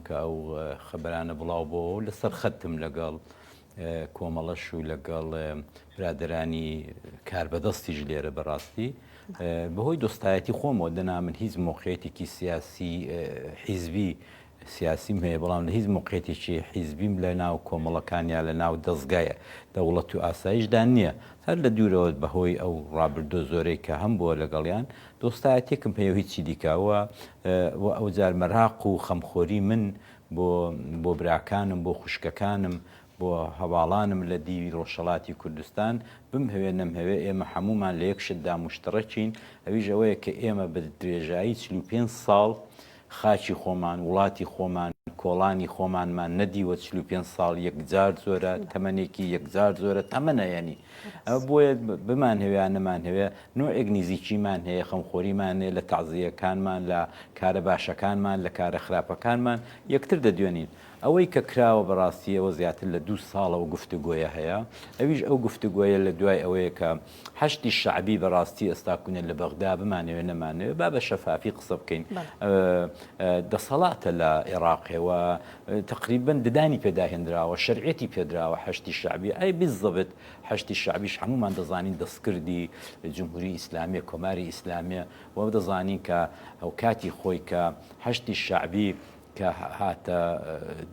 کە ئەو خەبەرانە بڵاو بۆوە و لەسەر خەتم لەگەڵ کۆمەڵەش و لەگەڵ برادرانی کاربەدەستیش لێرە بەڕاستی بەهۆی دۆستایەتی خۆمەوە دەنا من هیچ مۆقعێتێکی سیاسی حیزبی سیاسیم هەیە بەڵام لە هیچ مقێتێکی حیزبیم لە ناو کۆمەڵەکان یا لە ناو دەستگایە دەوڵەت و ئاسایشدا نییە هەر لە دوورەوە بەهۆی ئەو ڕابردۆ زۆرەی کە هەم بووە لەگەڵیان دۆستایەتیەکم پێیەو هیچی دیکە وە وە ئەوجار مەراق و خەمخۆری من بۆ بۆ براکانم بۆ خوشکەکانم بۆ هەڤاڵانم لە دیوی ڕۆژهەڵاتی کوردستان بمهەوێ نەمهەوێ ئێمە حەموومان لە یەک شتدا موشتەڕەکین ئەویش ئەوەیە کە ئێمە بە درێژایی چل و پێنج ساڵ خاکی خۆمان، وڵاتی خۆمان، کۆڵانی خۆمانمان نەدیوە چل و پێنج ساڵ یەکجار زۆرە، تەمەنێکی یەکجار زۆرە، تەمەنە یانی. ئەوە بۆیە بمانهەوێ یا نەمانهەوێ نۆعێک نزیکیمان هەیە، خەمخۆریمان هەیە لە تەعزییەکانمان، لە کارە باشەکانمان، لە کارە خراپەکانمان یەکتر دەدوێنین. ئەوەی کە کراوە بەڕاستی ئەوە زیاتر لە دوو ساڵە ئەو گفتوگۆیە هەیە، ئەویش ئەو گفتوگۆیە لە دوای ئەوەیە کە، حەشدی شەعبی بەڕاستی ئێستا کوونە لە بەغدا بمانەوێ نەمانەوێ با بە شەفافی قسە بکەین دەسەڵاتە لە عێراقەوە تقریبن ددانی پێداهێنراوە شەرعەتی پێدراوە حەشتی شعبی ئەی بزەبێت حەشتی شعبیش هەمومان دەزانین دەستکردی جمهوری ئیسلامیە کۆماری ئیسلامیە و دەزانین کە ئەو کاتی خۆی کە حەشتی شعبی کە هاتە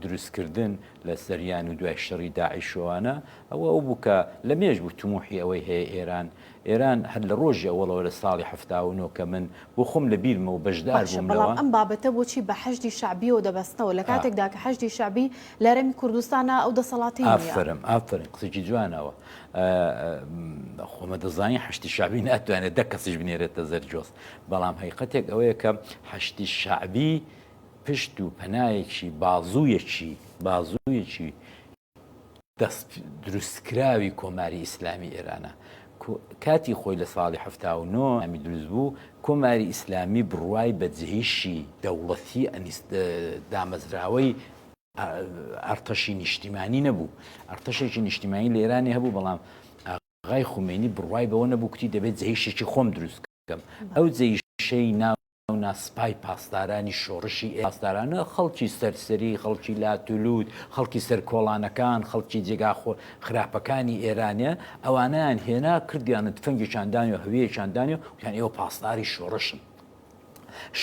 دروستکردن لە سریان و دوای شەڕی داعش و ئەوانە ئەوە ئەو بوو کە لە مێژ بوو تموحی ئەوەی هەیە ئێران ئێران هەر لە ڕۆژی ئەوەڵەوە لە ساڵی حەفتا و نۆ کە من بۆ خۆم لە بیرمە و بەشدار بووم لەوە. باشە بەڵام ئەم بابەتە بۆچی بە حەشدی شەعبیەوە دەبەستنەوە لە کاتێکدا کە حەشدی شەعبی لە هەرێمی کوردستانا ئەو دەسەڵاتی نیە. ئافەرم ئافەرم قسەکی جوانە ئەوە خۆمە دەزانی حەشدی شەعبی ناتوانێت دە کەسیش بنێرێتە زەرجۆز بەڵام هەیقەتێک ئەوەیە کە حەشدی شەعبی پشت و پەنایەکی بازوویەکی بازوویەکی دەست دروستکراوی کۆماری ئیسلامی ئێرانە کاتی خۆی لە ساڵی هەفتا و نۆ ئەمی دروست بوو کۆماری ئیسلامی بڕوای بە جێیشی دەوڵەتی دامەزراوەی ئەرتەشی نیشتیمانی نەبوو ئەرتەشێکی نیشتیمانی لە ئێرانی هەبوو بەڵام غای خومێنی بڕوای بەوە نەبوو کتی دەبێت جێیشێکی خۆم دروست کەم ئەو جێیشەی ناو ناونا سپای پاسدارانی شۆڕشی ئێران، پاسدارانە خەڵکی سەرسەری، خەڵکی لاتولوت، خەڵکی سەر کۆڵانەکان، خەڵکی جێگا خراپەکانی ئێرانە، ئەوانەیان هێنا کردیان و تفەنگێکیان دانی و هەویەکیان دانی و وتیان ئێوە پاسداری شۆڕشن.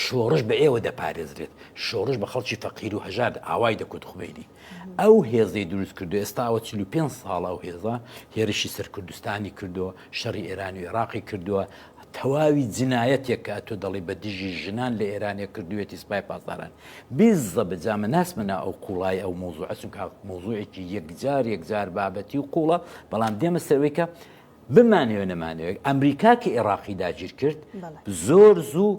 شۆڕش بە ئێوە دەپارێزرێت، شۆڕش بە خەڵکی فەقیر و هەژار ئاوای دەکوت خومەینی ئەو هێزەی دروست کردو ئێستا ئەوە چل و پێنج ساڵە ئەو هێزە هێرشی سەر کوردستانی کردووە، شەڕی ئێران و ئێڕاقی کردووە، تەواوی جنایەتێک کە ئەتۆ دەڵێی بە دژی ژنان لە ئێرانێ کردوویەتی سپای پاسداران. بیززەبە جا من ناچمە ناو ئەو قووڵایی ئەو مەوزووعە چونکا مەوزووعێکی یەکجار یەکجار بابەتی و قووڵە بەڵام دێمە سەر ئەوەی کە بمانەوێ نەمانەوێ ئەمریکا کە ئێڕاقی داگیر کرد زۆر زوو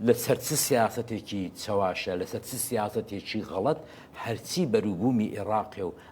لەسەر چ سیاسەتێکی چەواشە لەسەر چ سیاسەتێکی غەڵەت هەرچی بەروبوومی ئێڕاقێ و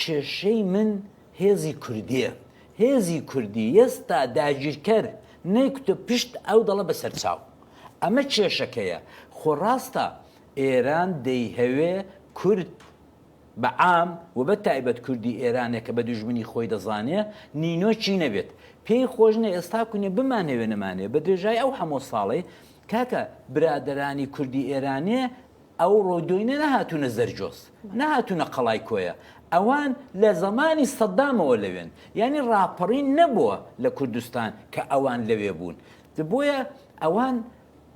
کێشەی من هێزی کوردیە هێزی کوردی یەستا داگیرکەر نەیکوتە پشت ئەو دەڵە بەسەرچاو ئەمە کێشەکەیە خۆ ڕاستە ئێران دەیهەوێ کورد بە عام وبە تایبەت کوردی ئێرانێ کە بە دوژمنی خۆی دەزانێ نینۆکی نەبێت پێی خۆش نە ئێستا کونێ بمانەوێ نەمانەوێ بە درێژای ئەو هەمۆ ساڵەی کاکە برادەرانی کوردی ئێرانێ ئەوڕۆ دۆینە نەهاتوونە زەرجۆس نەهاتوونە قەڵای کۆیە ئەوان لە زەمانی سەددامەوە لەوێن یانی ڕاپەڕین نەبووە لە کوردستان کە ئەوان لەوێ بوون بۆیە ئەوان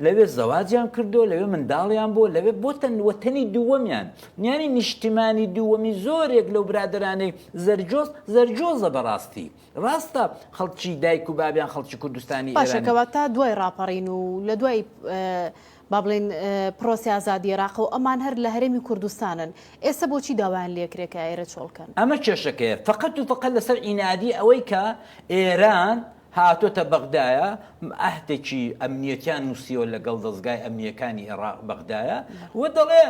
لەوێ زەواجیان کردو لەوێ منداڵیان بۆ لەوێ بۆتەن وەتەنی دووەمیان یانی نیشتیمانی دووەمی زۆرێک لەو برادرانەی زەرجۆز زەرجۆزە بەڕاستی ڕاستە خەڵکی دایک و بابیان خەڵکی کوردستانی باشەکەوە تا دوای ڕاپەڕین و لە دوای با بڵێین پرۆسەی ئازادی عێراقە و ئەمان هەر لە هەرێمی کوردستانن، ئێستە بۆچی داوایان لێ کرێ کە ئێرە چۆڵ کەن؟ ئەمە کێشەکەیە فەقەت و فەقەت لەسەر عینادی ئەوەی کە ئێران هاتۆتە بەغدایە عەهدێکی ئەمنیەتیان نووسیوە لەگەڵ دەزگای ئەمنیەکانی ئێڕاق بەغدایە و دەڵێ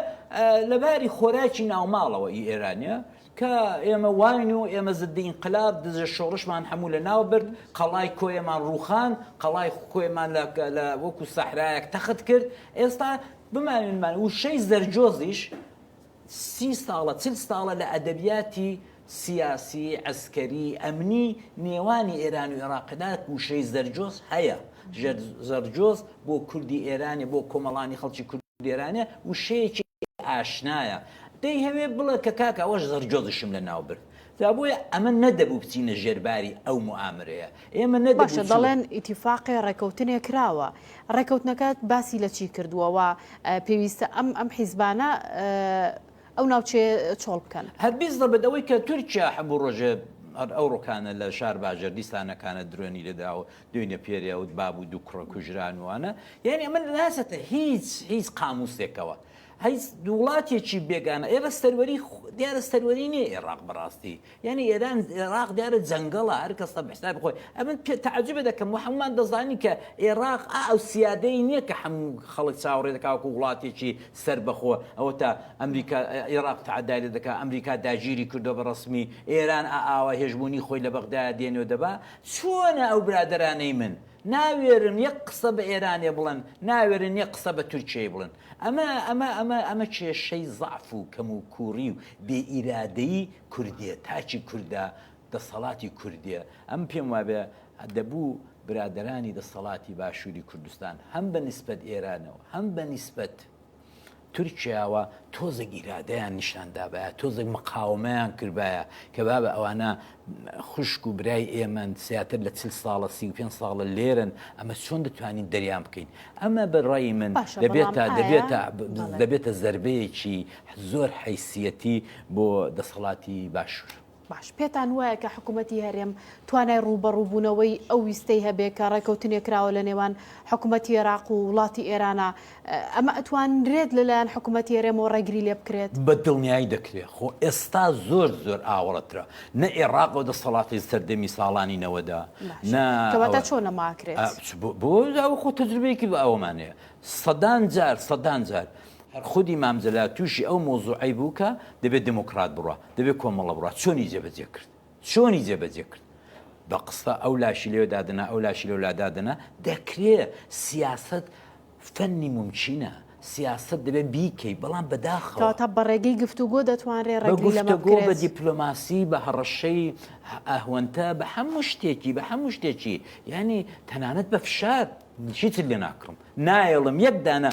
لە باری خۆراکی ناوماڵەوە ئی ئێرانە کە ئێمە واین و ئێمە زدی ئینقلاب، دزە شۆڕشمان هەموو لە ناو برد، قەڵای کۆیەمان ڕووخاند، قەڵای کۆیەمان لە لە وەکوو سەحرایەک تەخت کرد، ئێستا بمانوێ نەمانوێ وشەی زەرجۆزیش سی ساڵە چل ساڵە لە ئەدەبیاتی سیاسی، عەسکەری، ئەمنی نێوانی ئێران و ئێڕاقدا وشەی زەرجۆز هەیە، زەرجۆز بۆ کوردی ئێرانێ بۆ کۆمەڵانی خەڵکی کوردی ئێرانێ وشەیەکی ئاشنایە. دەیهەوێ بڵێ کە کاک ئەوەش زڕجۆزشم لە ناو برد. جا بۆیە ئەمە نەدەبوو بچینە ژێر باری ئەو موئامرەیە. ئێمە نەدەبوو چ. باشە دەڵێن ئیتیفاقێ ڕێکەوتنێ کراوە. ڕێکەوتنەکە باسی لە چی کردووە و پێویستە ئەم ئەم حیزبانە ئەو ناوچەیە چۆڵ بکەن؟ هەر بیست ضبط ئەوەی کە تورکیا حەبوو ڕۆژێ هەر ئەو ڕۆکانە لە شار باجەر دیسانەکانە درۆنی لێدا و دوینە پێرێ و باب و دوو کوڕە کوژران و وانە یانی ئەمە ناسەتە هیچ هیچ قاموسێکەوە. هیچ دوڵاتێکی بێگانە ئێرە سەروەری دیارە سەروەری نیە ئێراق بەڕاستی یعنی ئێران ئێراق دیارە جەنگەڵە هەر کەسە بەحساب خۆی ئەمن پێ تعجبە دەکەم محممان دەزانی کە ئێراق ئەو سیادەی نییە کە هەموو خەڵک چاوەڕێ دەکاوکو وڵاتێکی سربەخۆ ئەوە تا ئەمریکا ئێراق تعدای لە دەکات ئەمریکا داگیری کردو بە ڕسمی ئێران ئاوا هێژمونی خۆی لە بەغدا دێنێ دەبا چۆنە ئەو برادرانەی من ناوێرن یەک قسە بە ئێرانێ بڵن ناوێرن یەک قسە بە تورکیای بڵن ئەمە ئەمە ئەمە ئەمە کێشەی زەعف و کەم و کووڕی و بێ ئیرادەیی کوردێ تاکی کوردە دەسەڵاتی کوردێ ئەم پێم وابێ دەبوو برادەرانی دەسەڵاتی باشووری کوردستان هەم بە نیسبەت ئێرانەوە هەم بە نیسبەت تورکیاوە تۆزێک ئیرادەیان نیشان دابایە تۆزێک مقاوەمەیان کردبایە کە بابە ئەوانە خوشک و برای ئێمەن، زیاتر لە چل ساڵە، سی و پێنج ساڵە لێرەن، ئەمە چۆن دەتوانین دەریان بکەین؟ ئەمە بە ڕای من دەبێتە دەبێتە دەبێتە زەربەیەکی زۆر حیسیەتی بۆ دەسەڵاتی باشوور. باش پێتان وایە کە حکوومەتی هەرێم توانای ڕووبەڕووبوونەوەی ئەو ویستەی هەبێ کە ڕێکەوتنێ کراوە لە نێوان حکوومەتی عێراق و وڵاتی ئێرانە ئەمە ئەتوانرێت لەلایەن حکومەتی هەرێمەوە ڕێگری لێ بکرێت؟ بە دڵنیایی دەکرێت، خۆ ئێستا زۆر زۆر ئاوەڵەترە، نە ئێڕاق و دەسەڵاتی لە سەردەمی ساڵانی نەوەدا، نە. کەواتە چۆن نەما ئەکرێت؟ بۆ ئەوە خۆ تەجروبەیەکی بە ئەوەمان هەیە، سەدان جار سەدان جار، هەر خودی مام جەلال تووشی ئەو مەوزوعەی بوو کە دەبێت دێمۆکڕات بڕوا، دەبێت کۆمەڵە بڕوا، چۆنی جێبەجێ کرد؟ چۆنی جێ بەجێ کرد؟ بە قسە ئەو لاشی لێ دادنا ئەو لاشی لەو لا دادنا دەکرێ سیاست فەنی ممچینە سیاست دەبێت بیکەی بەڵام بەداخەوە کەواتە بە ڕێگەی گفتوگۆ دەتوانرێ بە ڕێگری لەمە گفتەگۆ بە بکرێت دیپلۆماسی بە هەڕەشەی ئەهوەنتە بە هەموو شتێکی بە هەموو شتێکی یعنی تەنانەت بە فشار هیچت لێ ناکڕم نایەڵم یەک دانە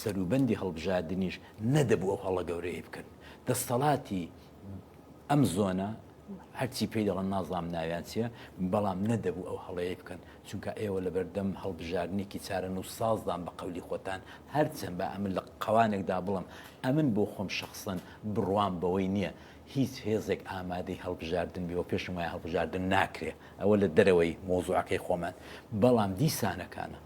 سەروبەندی هەڵبژاردنیش نەدەبوو ئەو هەڵە گەورەی بکەن دەستەڵاتی ئەم زۆنە هەرچی پێی دەڵن نازام ناویان چیە بەڵام نەدەبوو ئەو هەڵەیە بکەن چونکە ئێوە لە بەردەم هەڵبژارنێکی چارە و سازدان بە قەولی خۆتان هەرچەند بە ئەمن لە قەوانێکدا بڵم ئەمن بۆ خۆم شخصن بڕوام بەوەی نییە هیچ هێزێک ئامادەی هەڵبژاردن بێەوە پێشم وایە هەڵبژاردن ناکرێ ئەوە لە دەرەوەی مۆزوعەکەی خۆمان بەڵام دیسانەکانە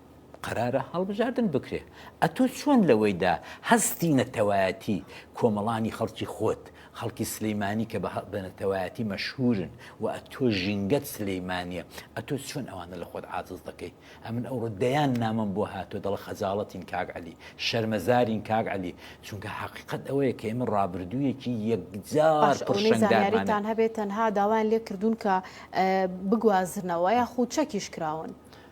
قەرارە هەڵبژاردن بکرێ ئەتۆ چۆن لەوەیدا هەستی نەتەوایەتی کۆمەڵانی خەڵکی خۆت خەڵکی سلیمانی کە بە نەتەوایەتی مەشهورن و ئەتۆ ژینگەت سلیمانیە ئەتۆ چۆن ئەوانە لە خۆت عاجز دەکەیت ئەمن ئەوڕۆ دەیان نامەم بۆ هاتووە دەڵە خەجاڵەتین کاک عەلی شەرمەزارین کاک عەلی چونکە حەقیقەت ئەوەیە کە ئێمە ڕابردوویەکی یەکجار پڕشنگارمانە هەبێت تەنها داوایان لێ کردوون کە بگوازنەوە یاخود چەکیش کراون.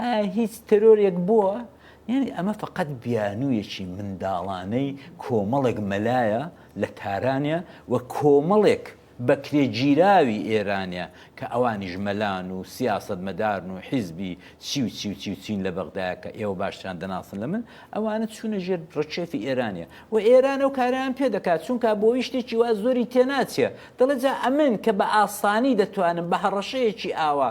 ئایا هیچ تێرۆرێک بووە؟ یانی ئەمە فەقەت بیانوویەکی منداڵانەی کۆمەڵێک مەلایە لە تارانە و کۆمەڵێک بەکرێگیراوی ئێرانە کە ئەوانیش مەلان و سیاسەتمەدارن و حیزبی چی و چی و چی و چین لە بەغدایە کە ئێوە باشتریان دەناسن لە من، ئەوانە چوونە ژێر ڕکێفی ئێرانە و ئێران ئەو کارەیان پێ دەکات، چونکا بۆی شتێکی وا زۆری تێناچێ، دەڵێ جا ئەمن کە بە ئاسانی دەتوانم بە هەڕەشەیەکی ئاوا،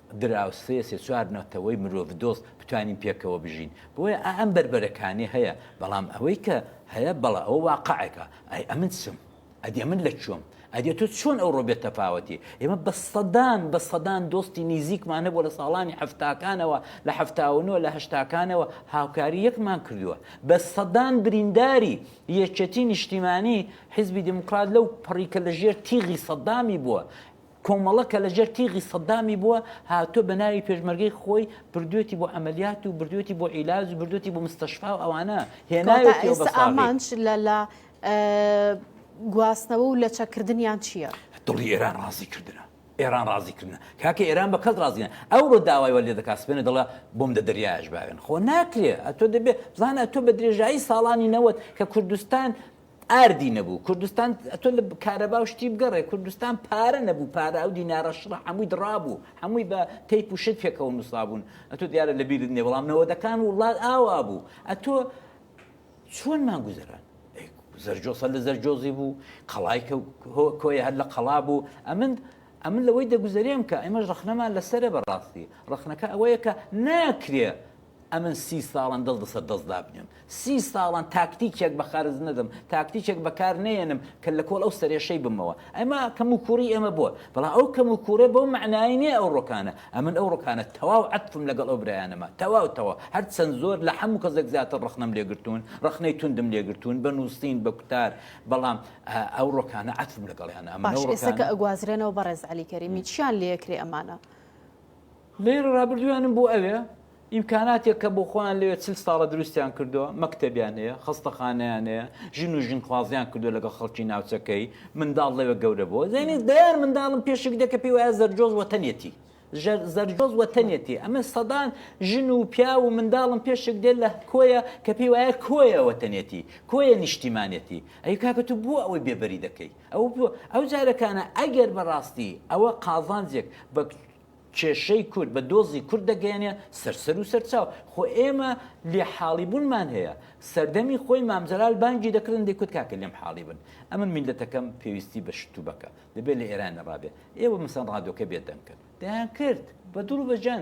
دراوسێ سێ چوار نەتەوەی مرۆڤ دۆست بتوانین پێکەوە بژین بۆیە ئا ئەم بەربەرەکانێ هەیە بەڵام ئەوەی کە هەیە بەڵە ئەوە واقعێکە ئەی ئەمن چم ئەدی ئەمن لە کوێم ئەدی تۆ چۆن ئەوڕۆ بێ تەفاوەتی ئێمە بە سەدان بە سەدان دۆستی نیزیکمان هەبوو لە ساڵانی هەفتاکانەوە لە هەفتاونەوە لە هەشتاکانەوە هاوکاری یەکمان کردووە بە سەدان برینداری یەکێتی نیشتیمانی حیزبی دیموکرات لەو پڕی کە لە ژێر تیغی سەدامی بووە کۆمەڵە کە لەژێر تیغی سەدامی بووە هاتووە بە ناوی پێشمەرگەی خۆی بردوێتی بۆ عەمەلیات و بردوێتی بۆ عیلاج و بردوێتی بۆ مستەشفا و ئەوانە هێناوێتیەوە بە ساغی. گواستنەوە و لەچە کردنیان چییە؟ دڵی ئێران ڕازی کردنە. ئێران ڕازی کردن کاکە ئێران بە کەس ڕازیە ئەوڕۆ داوای وە لێ دەکات سپێنە دەڵە بۆم دە دەریاش باوێن خۆ ناکرێ ئەتۆ دەبێت بزانە تۆ بە درێژایی ساڵانی نەوەت کە کوردستان ئاردی نەبوو کوردستان تۆ لە کارەبا و شتی بگەڕێ کوردستان پارە نەبوو پارە ئەو دینارە شڕە هەمووی دڕابوو هەمووی بە تەیپ و شت پێکەوە نووسابوون ئەتۆ دیارە لە بیرت نیە بەڵام نەوەدەکان وڵات ئاوا بوو ئەتۆ چۆن مانگوزەران زەرجۆسە لە زەرجۆزی بوو قەڵای کۆی هەر لە قەڵا بوو ئەمن ئەمن لەوەی دەگوزەرێم کە ئەمەش ڕخنەمان لەسرە بەڕاستی ڕخنەکە ئەوەیە کە ناکرێ ئەمن سی ساڵەن دەست بەسەر دەست دابنێم، سی ساڵەن تاکتیکێک بە خەرج نەدەم، تاکتیکێک بەکار نەیەنم کە لە کۆڵ ئەو سەرێشەی بمەوە. ئەمە کەموکووڕی ئێمە بووە، بەڵام ئەو کەموکووڕە بەو مەعنایەی نییە ئەو ڕۆکانە. ئەمن ئەو ڕۆکانە تەواو عەتفم لەگەڵ ئەو برایانەما، تەواو تەواو. هەر چەند زۆر لە هەموو کەسێک زیاتر ڕەخنەم لێ گرتوون، ڕەخنەی توندم لێ گرتوون، بە نووسین، بە کوتار، بەڵام ئەو ڕۆکانە عەتفم لەگەڵیانە. ئەمن ئەو ڕۆکانە. باش ئێستا کە ئەگوازرێنەوە بەڕێز عەلی کەریمی، چییان لێ ئەکرێ ئەمانە؟ لەیەر رابردوویانم بۆ ئەوێ ئیمکاناتێک کە بۆ خۆیان لەوێ چل ساڵە دروستیان کردووە، مەکتەبیان هەیە، خەستەخانەیان هەیە، ژن و ژنخوازیان کردووە لەگەڵ خەڵکی ناوچەکەی، منداڵ لەوێ گەورە بووە، یانی دەیان منداڵم پێشێک دێ کە پێی وایە زەرجۆز وەتەنێتی. زەرجۆز وەتەنێتی، ئەمە سەدان ژن و پیاو و منداڵم پێشێک دێت لە کۆیە کە پێی وایە کۆیە وەتەنێتی، کۆیە نیشتیمانێتی، ئەی کاکە تۆ بۆ ئەوەی بێبەری دەکەی؟ ئەو ئەو جارەکانە ئەگەر بەڕاستی ئەوە قازانجێک بە کێشەی کورد بە دۆزی کورد دەگەیەنێ سەر سەر و سەر چاو. خۆ ئێمە لێ حاڵی بوونمان هەیە. سەردەمی خۆی مام جەلال بانگی دەکردن دەیکوت کاکە لێم حاڵی بن. ئەمن میللەتەکەم پێویستی بە شتوبەکە. دەبێ لە ئێرانەڕا بێ. ئێوە مەسەن ڕادۆکە بێ دەنگکن. دەیانکرد. بە دڵ و بە جان.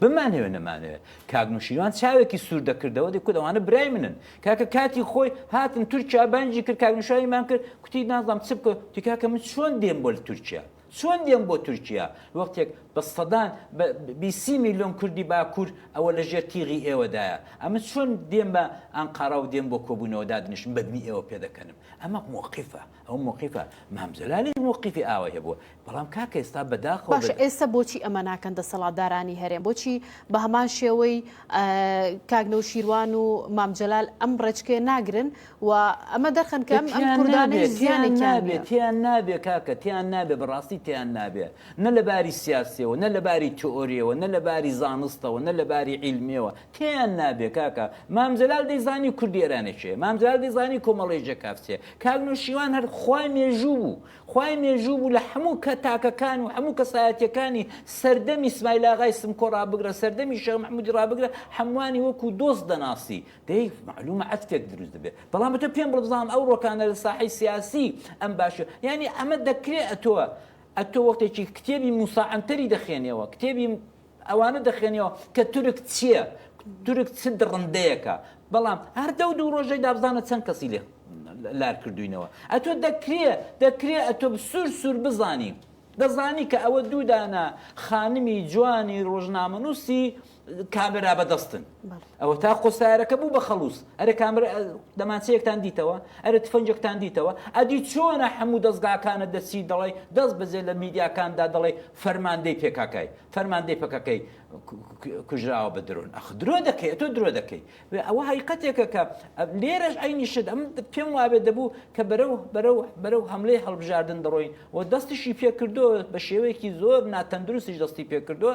بمانەوێ نەمانەوێ کاک نوشیروان چاوێکی سور دەکردەوە دەکوت ئەوانە برای منن کاکە کاتی خۆی هاتن تورکیا بانجی کرد کاک نوشایمان کرد کوتی نازام چ بکە تی کاکە من چۆن دێم بۆ تورکیا چۆن دێم بۆ تورکیا وەختێک بە سەدان بیسی میلیۆن کوردی باکوور ئەوە لە ژێر تیغی ئێوەدایە ئەمە چۆن دێم بە ئەنقەرا و دێم بۆ کۆبوونەوە دادنیشم بەدنی ئێوە پێدەکەنم ئەمە موقیفە ئەو مۆقیفە مام جەلالیش مۆقیفی ئاوای هەبووە بەڵام کاکە ئێستا بەداخەوە بە. باشە ئێستا بۆچی ئەمە ناکەن دەسەڵاتدارانی هەرێم بۆچی بە هەمان شێوەی کاک نەوشیروان و مام جەلال ئەم ڕێچکەیە ناگرن و ئەمە دەرخەن کە ئەم ئەم کوردانەی زیانێکیان نیە. تێیان نابێ کاکە تێیان نابێ بەڕاستی تێیان نابێ نە لە باری سیاسیەوە نە لە باری تئۆریەوە نە لە باری زانستەوە نە لە باری عیلمیەوە کێیان نابێ کاکە مام جەلال دەیزانی کوردی ئێرانێ کێیە مام جەلال دەیزانی کۆمەڵەی جەکاف چیە کاک نەوشیروان هەر خوای مێژوو بوو خوای مێژوو بوو لە هەموو کە تاکەکان و هەموو کەسایەتیەکانی سەردەمی سمایل ئاغای سمکۆ ڕابگرە سەردەمی شێخ محمودی ڕابگرە هەمووانی وەکو دۆست دەناسی دەی معلومە عەتفێک دروست دەبێت بەڵام بە تۆ پێم بڵێ بزانم ئەو ڕۆکانە لە ساحەی سیاسی ئەم باشە یعنی ئەمە دەکرێ ئەتۆ ئەتۆ وەختێکی کتێبی موسا عەنتەری دەخێنیەوە کتێبی ئەوانە دەخوێنیەوە کە تورک چیە تورک چ دڕندەیەکە بەڵام هەر دەو دوو ڕۆژەی دابزانە چەند کەسی لێ لار کردوینەوە ئەتۆ دەکرێ دەکرێ ئەتۆ سوور سوور بزانی دەزانی کە ئەوە دوودانە خانمی جوانی ڕۆژنامەنووسی کامێرا بەدەستن ئەوەتا خۆ سارەکە بوو بە خەڵووز، ئەرێ کامەرە دەمانچەیەکتان دیتەوە، ئەرێ تفەنگێکتان دیتەوە، ئەدی چۆنە هەموو دەزگاکانت دەچی دەڵێی دەست بەجێ لە میدیاکاندا دەڵێی فەرماندەی پێکاکای، فەرماندەی پەکەکەی کوژراوە بە درۆن، ئەخ درۆ دەکەی تۆ درۆ دەکەی، ئەوە هەقیقەتێکە کە لێرەش عەینی شت، ئەم پێم وابێ دەبوو کە بەرەو بەرەو بەرەو هەملەی هەڵبژاردن دەڕۆین و دەستیشی پێکردووە بە شێوەیەکی زۆر ناتەندروستیش دەستی پێکردووە،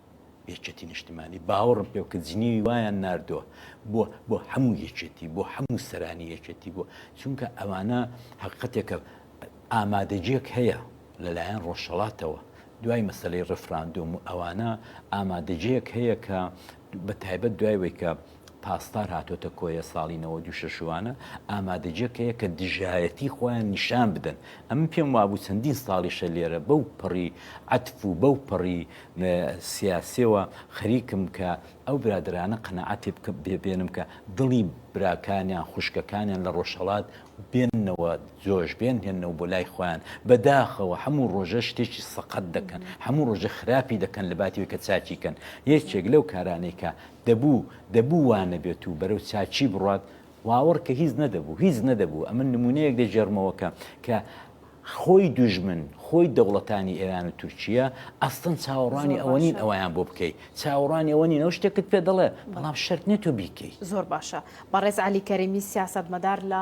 یەکێتی نیشتمانی باوەڕم پێ بکە جنێوی وایان ناردووە بۆ بۆ هەموو یەکێتی بۆ هەموو سەرانی یەکێتی بۆ چونکە ئەوانە حقەتێکە ئامادەجێک هەیە لەلایەن ڕۆژهڵاتەوە دوای مەسلەی ڕفراندۆم و ئەوانە ئامادەجێک هەیە کە بە تایبەت دوای وەیکە پاسدار هاتۆتە کۆیە ساڵی نەوەد و شەش وانە ئامادەجێک هەیە کە دژایەتی خۆیان نیشان بدەن ئەمن پێم وابوو چەندین ساڵیشە لێرە بەو پەڕی عەتف و بەو پەڕی سیاسیەوە خەریکم کە ئەو برادەرانە قەناعەتی بکە بێنم کە دڵی براکانیان خوشکەکانیان لە ڕۆژهەڵات بێننەوە جۆش بێن هێنەوە بۆ لای خۆیان بەداخەوە هەموو ڕۆژە شتێکی سەقەت دەکەن هەموو ڕۆژە خراپی دەکەن لە باتی کە چاکیکەن یەکێک لەو کارانەی کە دەبوو، دەبوو وا نەبێت و بەرەو چاکی بڕوات، واوڕ کە هیچ نەدەبوو، هیچ نەدەبوو، ئەمن نموونەیەک دەگێڕمەوە کە، کە خۆی دوژمن، خۆی دەوڵەتانی ئێران و تورکییە، ئەسڵەن چاوەڕوانی ئەوە نین ئەوەیان بۆ بکەی، چاوەڕوانی ئەوە نین، ئەو شتێکت پێ دەڵێ، بەڵام شەرت نییە تۆ بیکەی. زۆر باشە. بەڕێز عەلی کەریمی سیاسەتمەدار لە